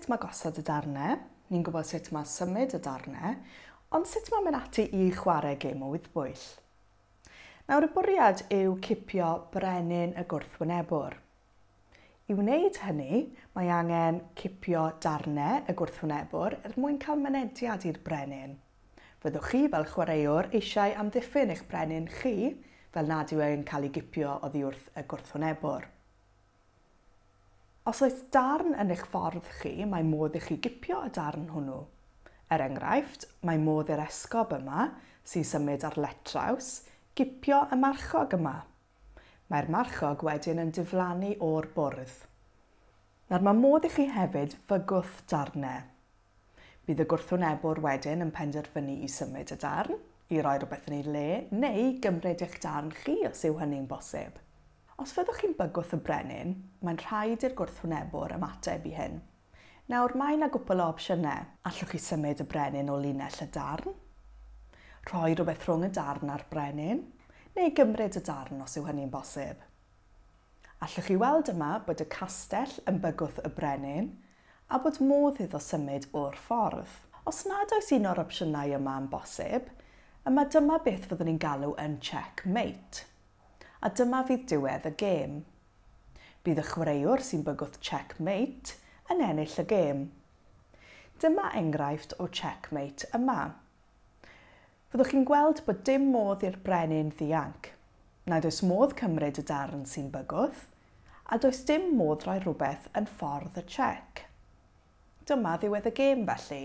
sut mae gosod y darnau, ni'n gwybod sut mae symud y darnau, ond sut mae mynd ati i chwarae gêm o wyddbwyll. Nawr y bwriad yw cipio brenin y gwrthwynebwr, I wneud hynny, mae angen cipio darnau y gwrthwynebwr er mwyn cael mynediad i'r brenin. Fyddwch chi fel chwaraewr eisiau amddiffyn eich brenin chi fel nad yw e'n cael ei gipio oddi wrth y gwrthwynebwr. Os oes darn yn eich ffordd chi, mae modd i chi gipio y darn hwnnw. Er enghraifft, mae modd i'r esgob yma, sy'n symud ar letraws, gipio y marchog yma. Mae'r marchog wedyn yn diflannu o'r bwrdd. Nawr mae modd i chi hefyd fygwth darnau. Bydd y gwrthwynebwr wedyn yn penderfynu i symud y darn, i roi rhywbeth yn ei le, neu i gymryd eich darn chi os yw hynny'n bosib. Os fyddwch chi'n bygwth y brenin, mae'n rhaid i'r gwrthwynebwr ymateb i hyn. Nawr, mae 'na gwpwl o opsiynau. Allwch chi symud y brenin o linell y darn, rhoi rhywbeth rhwng y darn a'r brenin, neu gymryd y darn os yw hynny'n bosib. Allwch chi weld yma bod y castell yn bygwth y brenin a bod modd iddo symud o'r ffordd. Os nad oes un o'r opsiynau yma yn bosib, yma dyma beth fyddwn ni'n galw yn check mate. A dyma fydd diwedd y gêm. Bydd y chwaraewr sy'n bygwth Check Mate yn ennill y gêm. Dyma enghraifft o Check Mate yma. Fyddwch chi'n gweld bod dim modd i'r brenin ddianc. Nad oes modd cymryd y darn sy'n bygwth, a does dim modd rhoi rhywbeth yn ffordd y chec. Dyma ddiwedd y gêm felly.